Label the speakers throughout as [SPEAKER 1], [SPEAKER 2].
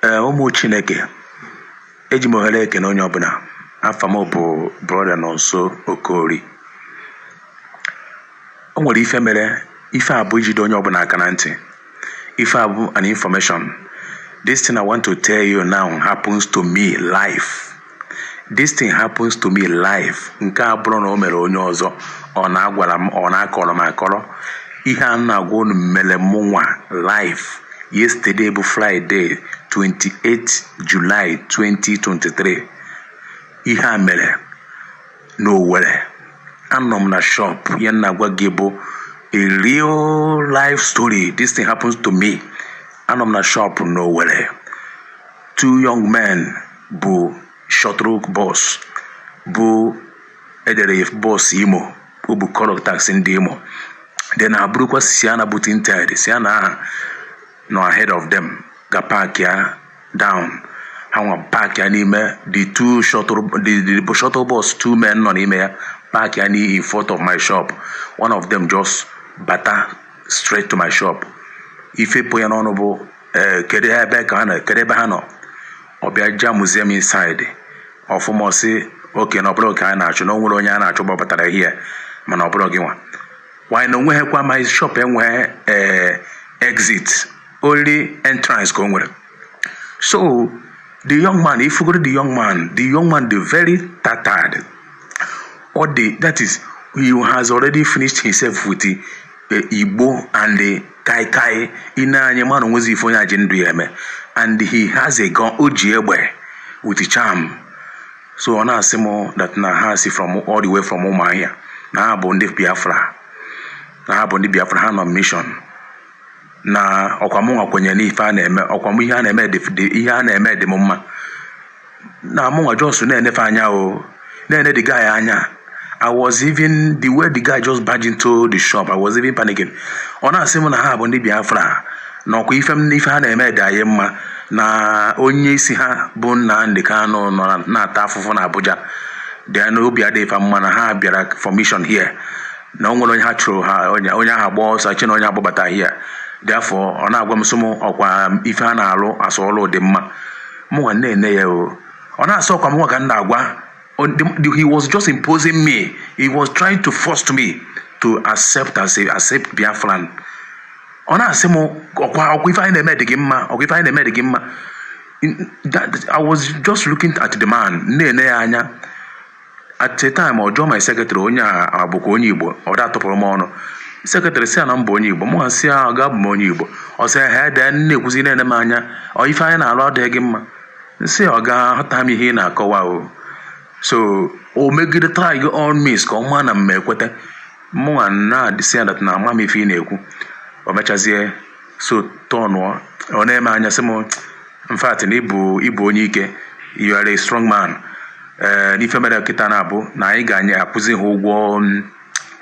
[SPEAKER 1] ee ụmụ chineke eji m ohere ekene onye ọbụla afa m bụ brọda nọnso okori o nwere ife mere ife a bụ ijide onye ọbụla aka na ntị ife a bụ an information this thing i want to tell you now happens to me live this thing happens to me live nke a abụrọ na o mere onye ọzọ ọ na-agwara m ọ na-akọrọ m akọrọ ihe a m na-agwa unu mere mụ nwa live yesterday bụ Friday 28 July 2023 ihe a mere n'Owerri anọ m na shop ihe a m na-agwa gị bụ a real life story this thing happens to me anọ m na shop n'Owerri two young men bu shuttle bus bụ e dere bus imo o bu color taxi ndị imo then ha burukwa sienna bụ tinted sienna ahụ nọ ahead of them ga park ya down ha nwa park ya n'ime the two shuttle the, the shuttle bus two men nọ n'ime ya park ya n'ihu in front of my shop one of them just bata straight to my shop ife pụ ya n'ọnụ bụ ee kedu ha ebe ka ha nọ kedu ebe ha nọ ọ bịa ja muzium inside ọfụma ọ sị okay na ọ bụrọ oke a na-achụ na o nwere onye a na-achụ gbabatara here mana ọ bụrọ gị nwa while na onweghị kwa my shop enweghị ee exit only entrance ka o nwere so the young man ifugoro the young man the young man dị very tattered or the that is he has already finished himself with the uh, igbo and the kai kai i nee anya ị mara onwezi ife onye a ji ndụ ya eme and he has a gun o ji egbe with charm so ọ na-asị m that na ha si from all the way from ụmụahịa na ha bụ ndị biafra na ha bụ ndị biafra ha nọ mission na ọkwa mụnwa kwenyere n'ife a na-eme ọkwa m ihe a na-eme dị ihe a na-eme dị m mma na mụnwa just na-ene fa anya o na-ene the guy anya I was even the way the guy just barged into the shop I was even panicking ọ na-asị m na ha bụ ndị Biafra na ọkwa ife m n'ife ha na-eme dị anyị mma na onye isi ha bụ Nnamdi Kanu nọ na- na-ata afụfụ na Abuja then na obi adịghị fa mma na ha bịara for mission here na o nwere onye ha chụrụ ha onye onye ahụ agba ọsọ chee na onye agbabata here therefore ọ na-agwa m sị m ọkwa ife ha na-alụ as ọlụ dị mma mụnwa na-ene ya o ọ na-asị ọkwa mụnwa ka m na-agwa on the, the, he was just imposing me he was trying to force me to accept as a accept biafran ọ na-asị m ọkwa ọkwa ife anyị na-eme dị gị mma ọkwa ife anyị na-eme dị gị mma In- that- i was just looking at the man na-ene ya anya at a time ọ jụọ my secretary onye a bụkwa onye igbo ọ da atụpụrụ m ọnụ secretary si ya na m bụ onye igbo mụ si ya ọga abụ m onye igbo ọ sị ha ede na-ekwuzi na-ene m anya ọ ife anyị na-alụ adịghị gị mma m sị ọga aghọta m ihe ị na-akọwa o so o megide try all means ka ọ maa na m ma ekweta mụnwa na-adịsị ya that na ama m ife ị na-ekwu o mechazie so tọnụọ ọ na-ene m anya sị m in fact na ị bụ ị bụ onye ike you are a strong man ee n'ife mere kịta na-abụ na anyị ga na-akwụzi ha ụgwọ mm,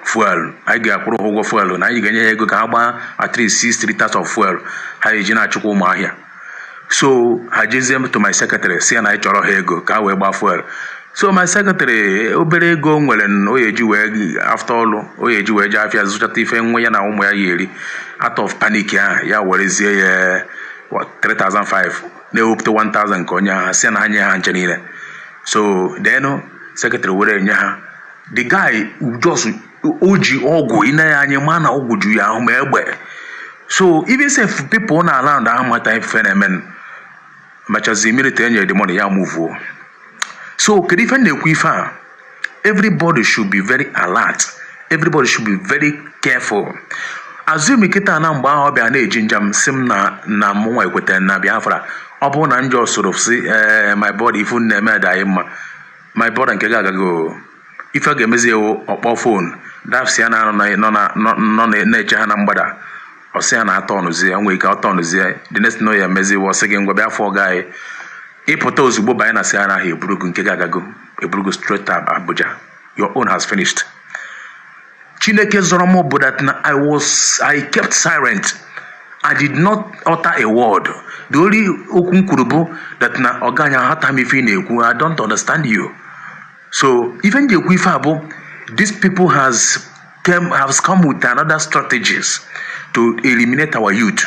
[SPEAKER 1] fuel anyị ga-akwụrụ ha ụgwọ fuel na anyị ga-enye ha ego ka ha gbaa at least six litres of fuel ha ya eji na-achụkwa ụmụ ahịa so ha jezie to my secretary si ya na anyị chọọrọ ha ego ka ha wee gbaa fuel so my secretary obere ego o nwere na o ya eji wee after ọlụ o ya eji wee jee afịa zụchata ife nwa ya na ụmụ ya ya eri out of panic ahụ ya werezie ya what, 3500 na-ewepụta 1000 ka o nye ha si na ha nye ha ncha niile so then secretary were nye ha the guy just o ji ọgwụ i ne ya anya ị ma na ọgwụ ju ya ahụ ma egbe so even sef people nọ around ahụ mata ife na-emenụ machazi immediately e nyere the money ya muvuo so kedu ife na-ekwu ife a everybody should be very alert everybody should be very careful assuming kịta na mgbe ahụ ọ bịa na-eginger m si m na na mụnwa ekwetara na biafra ọ bụrụ na m jee soro si ee my brother ife unu na-eme dị mma my brother nke gị agago ife ga-emezi wụ ọ kpọọ phone dafsi ya na nọ na- nọ na- na-eche ha na mgbada ọ sị ya na atọ ọnụzie ya nwere ike atọ ọnụzie ya the next thing ya emezi wụ ọ sị gị ngwa bịa fụ ọga anyị ị pụta ozugbo banye na Sienna ahụ eburu gị nke gị agago eburu gị straight to Abuja your own has finished Chineke zọrọ m bụ that na I was I kept silent I did not utter a word the only okwu m kwuru bụ that na ọga na aghọta m ife ị na-ekwu I don't understand you so ife m ji ekwu ife a bụ these people has came, has come with another strategies to eliminate our youth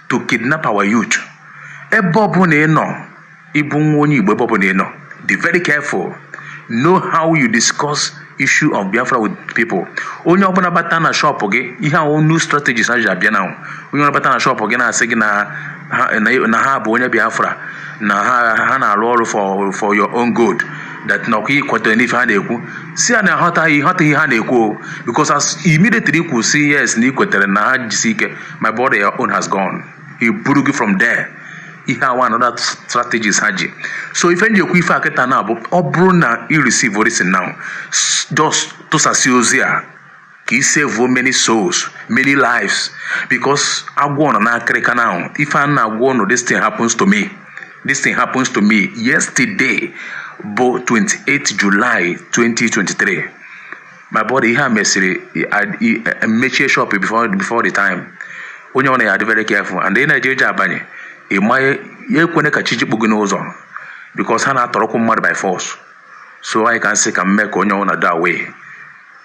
[SPEAKER 1] to kidnap our youth ebe ọbụla ị nọ ị bụ nwa onye igbo ebe ọbụla ị nọ be very careful know how you discuss issue of biafra with people onye ọbụla bata na shop gị ihe a wụ new strategies ha ji abịa na onye ọbụla bata na shop gị na-asị gị na ha- na na ha bụ onye biafra na ha ha na-arụ ọrụ for for your own good that na ọkwa i kwetara n'ife ha na-ekwu si ya na aghọtaghị ị ghọtaghị ihe ha na-ekwu o because as immediately i kwu si yes na i kwetara na ha jisi ike my brother your own has gone ha eburu gị from there ihe a wụ another strategies ha ji so ife m ji ekwu ife a kịta na abụ ọ bụrụ na i receive this now s- just tụsasị ozi a ka i save many souls many lives because agwọ nọ n'akịrịka now ife m na-agwa unu this thing happens to me this thing happens to me yesterday bụ 28 July 2023 my body ihe a mesịrị mechie shop before before the time onye ọna ya dị very careful and ị na-eje eji abanye ị maghị ya ekwene ka chi jikpu gị n'ụzọ because ha na-atọrọkwu mmadụ by force so anyị ka m sị ka m mee ka onye ọna dị aware